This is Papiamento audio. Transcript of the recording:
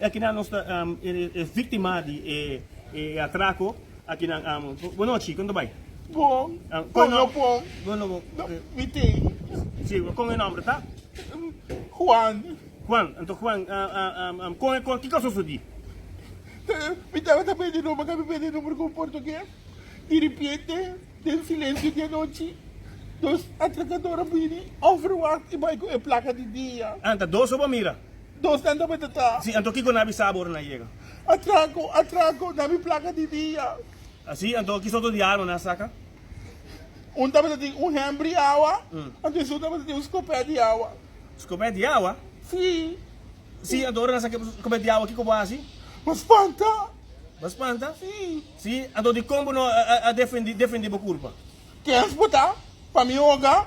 E akinan nos ta e víktima di e atrako. Akinan, Bonochi, kon ta bai? Bon, kon lo bon? Bon lo bon? Mi tin. Sí, kon e nòmber ta? Juan. Juan, anto Juan, kon e kon, kiko sosodí? Mi tabata ta pende nòmber, mi pende nòmber ku un portugues. Diripiente, den silensio di anochi, dos atrakador a bini, òfer Juan i bai ku e plaka di dia. Anta dos so bo mira? Dos danta bo e ta tra. Así anto kiko na bi sabo ora na yega. Atraco, atraco, na bi placa di dia. Así anto ki sorto di arma na saca. Un tabata tin un hembri awa, anto esun tabata tin un scopet di awa. Scopet di awa? Sí. Sí, anto ora na saca e scopet di awa kiko bo haci? Bo spanta. Bo spanta? Sí. Sí, anto di con bo no a defendi defendi bo culpa? Kens bo ta? Pa mi oga?